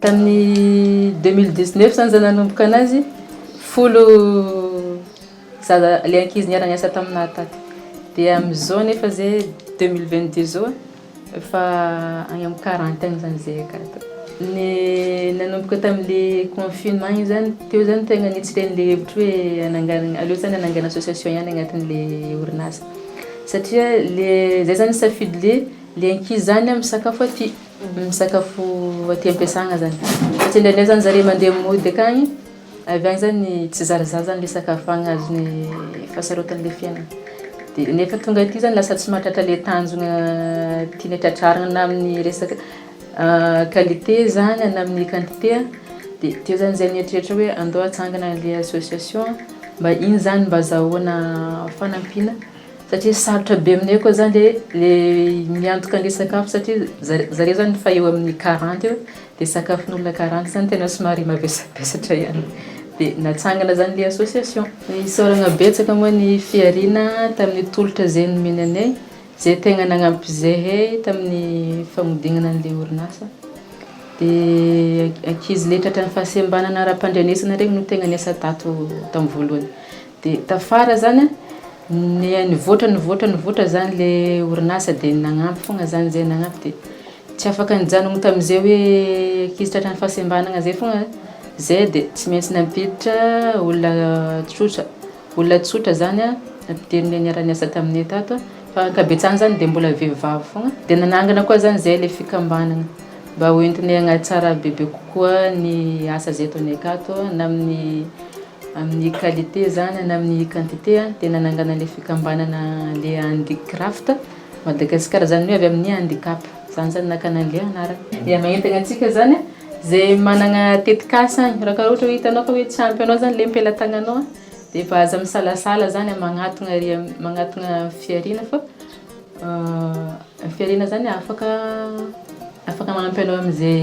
tamin'ny 2019 zany za nanomboka anazy folo zaza le ankizy niara-niasa taminà tato dia am'izao nefa zay 2022 zao Efa any amin'ny quarante any zany zay akato. Ny nanomboka tamin'le confinement iny zany, teo zany tegna nitsy le an'le hevitry hoe hananganagna, aleo zany hanangana association ihany agnatin'le orinasa. Satria le zay zany safidy le le ankizy zany misakafo aty, misakafo aty am-piasagna zany. Satria ndraindray zany zare mandeha mody akagny. Avy any zany tsy zarazara zany le sakafo agny azony fahasarotany le fiainana de nefa tonga aty zany lasa tsy mahatratra le tanjona tiany tratrarina na amin'ny resaka qualité zany na amin'ny quantité a de teo zany zay nieritreritra hoe andao atsangana le association mba iny zany mba azahoana fanampiana satria sarotra be aminay koa zany le le miantoka an'le sakafo satria zare zare zany efa eo amin'ny quarante eo Dia sakafon'olona karana izany tena somary mavesabesatra ihany. Dia natsangana izany ilay association. Isaoragna betsaka moa ny Fihariana tamin'ny tolotra izay nomeny anay, izay tegna nagnampy zahay tamin'ny fagnodignana an'ilay orinasa. Dia ankizy le tratran'ny fahasembanana ara-pandrenesana regny no tegna niasa tato tamin'ny voalohany. Dia tafara zany nivoatra nivoatra nivoatra zany le orinasa dia nagnampy fôgna zany zay nagnampy dia. Tsy afaka nijanogno tamin'izay hoe ankizy tratran'ny fahasembanana izay foana izay dia tsy maintsy nampiditra olona tsotra. Olona tsotra izany nampidirin'ny niara niasa taminay tato fa ankabetsahany izany dia mbola vehivavy foana. Dia nanangana koa izany izay ilay fikambanana mba ho entinay hanatsara bebe kokoa ny asa izay ataonay akato na amin'ny amin'ny qualité izany na amin'ny quantité dia nanangana ilay fikambanana ilay Handicraft. Madagasikara zany hoe avy amin'ny handicap zany zany nakana le anarana. Dia maentana antsika zany zay manana tetikasa any raha ka ohatra hoe hitanao fa hoe tsy ampy anao zany le mpelatananao a de efa aza misalasala zany a magnatogna ary magnatogna fihariana fa fihariana zany afaka afaka magnampy anao am'zay